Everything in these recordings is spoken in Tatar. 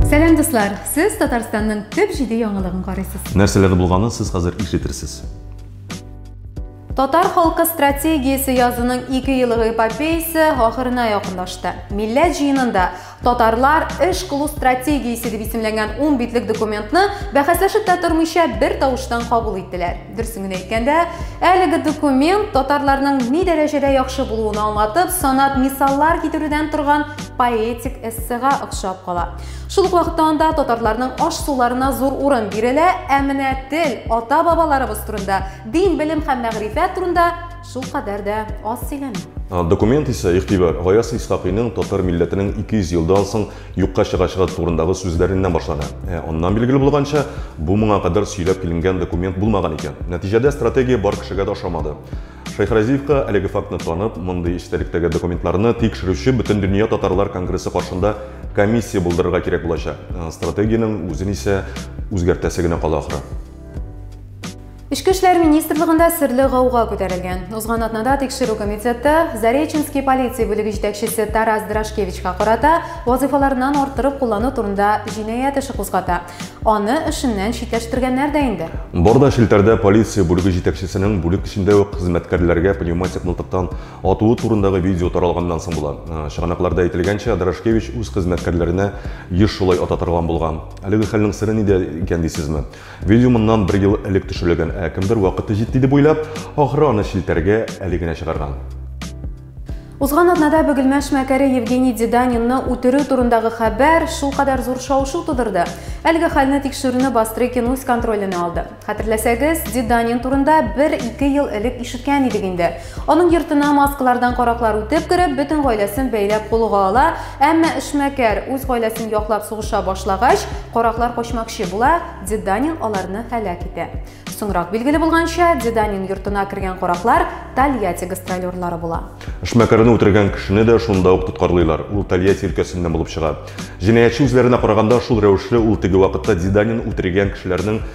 Сәлам дуслар! Сез Татарстанның төп җиде яңалыгын карыйсыз. Нәрсәләр булганын сез хәзер ишетерсез. Татар халкы стратегиясе язының ике еллык эпопеясы ахырына якынлашты. Милләт җыенында Татарлар эш кылу стратегиясе дип исемләнгән ун битлек документны бәхәсләшеп тә тормыйча бер тавыштан кабул иттеләр. Дөресен генә әйткәндә, әлеге документ татарларның ни дәрәҗәдә яхшы булуын аңлатып, санап мисаллар китерүдән торган поэтик эссега охшап кала. Шул ук вакытта анда татарларның аш-суларына зур урын бирелә, ә менә тел, ата-бабаларыбыз турында, дин, белем һәм мәгърифәт турында Шул кадәр дә аз сөйләнә. Документ исә игътибар Гаяз Исхакыйның татар милләтенең 200 елдан соң юкка чыгачагы турындагы сүзләреннән башлана. Ә аннан билгеле булганча, бу моңа кадәр сөйләп киленгән документ булмаган икән. Нәтиҗәдә стратегия бар кешегә дә ошамады. Шәйхразиевка әлеге фактны танып, мондый эчтәлектәге документларны тикшерүче Бөтендөнья татарлар конгрессы каршында комиссия булдырырга кирәк булачак. Стратегиянең үзен исә үзгәртәсе генә кала ахры. Эчке эшләр министрлыгында серле гауга күтәрелгән. Узган атнада тикшерү комитеты Зареченский полиция бүлеге җитәкчесе Тарас Драшкевичка карата вазыйфаларыннан арттырып куллану турында җинаять эше кузгата. Аны эшеннән читләштергәннәр дә инде. Борда челтәрдә полиция бүлеге җитәкчесенең бүлек эчендә үк хезмәткәрләргә пневматик мылтыктан атуы турындагы видео таралганнан соң була. Э, чыганакларда әйтелгәнчә, Драшкевич үз хезмәткәрләренә еш шулай ата торган булган. Әлеге хәлнең сере нидә икән дисезме? Видео моннан бер ел элек төшерелгән, ә кемдер вакыты җитте дип уйлап, ахры аны челтәргә әле генә чыгарган. Узган атнада Бөгелмә шмәкәре Евгений Деданинны үтерү турындагы хәбәр шулкадәр зур шау-шу тудырды. Әлеге хәлне тикшерүне Бастрыкин үз контроленә алды. Хәтерләсәгез, Деданин турында бер-ике ел элек ишеткән идек инде. Аның йортына маскалардан караклар үтеп кереп, бөтен гаиләсен бәйләп кулга ала, әмма эшмәкәр үз гаиләсен яклап сугыша башлагач, караклар качмакчы була, Деданин аларны һәлак итә. Соңрак билгеле булганча, Деданин йортына кергән караклар Тольятти гастролерлары була. Эшмәкәрне үтергән кешене дә шунда ук тоткарлыйлар, ул Тольятти өлкәсеннән булып чыга. Җинаятьче үзләренә караганда, шул рәвешле ул теге вакытта Деданин үтергән кешеләрнең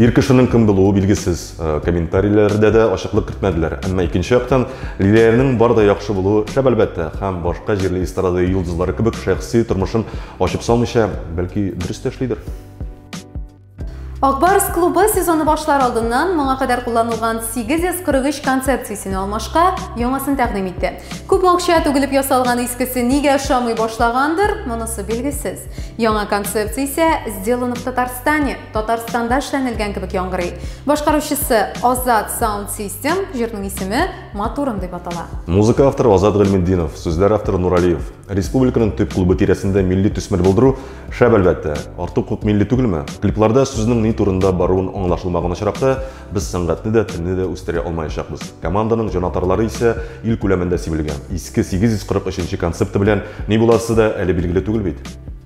Ир кешенең кем булуы билгесез. Э, комментарийләрдә дә ачыклык кертмәделәр. Әмма икенче яктан, Лилиянең бар да яхшы булуы шәп әлбәттә, һәм башка җирле эстрада йолдызлары кебек шәхси тормышын ачып салмыйча, бәлки дөрес тә эшлидер. Акбарс клубы сезоны башлар алдыннан моңа кадәр кулланылган 843 концепциясен алмашка яңасын тәкъдим итте. Күп акча түгелеп ясалган искесе нигә ошамый башлагандыр, монысы билгесез. Яңа концепция исә сделано в Татарстане. Татарстанда эшләнелгән кебек яңгырый. Башкаручысы Азат Sound System, җырның исеме Матурым дип атала. Музыка авторы Азат Гыйльметдинов, сүзләр авторы Нуралиев. Республиканың төп клубы тирәсендә милли төсмер булдыру шәп әлбәттә. Артык күп милли түгелме? Клипларда сүзнең ни турында баруын аңлашылмаган очракта без сәнгатьне дә, телне дә үстерә алмаячакбыз. Команданың җанатарлары исә ил күләмендә сибелгән. Иске 843 концепты белән ни буласы да әле билгеле түгел бит.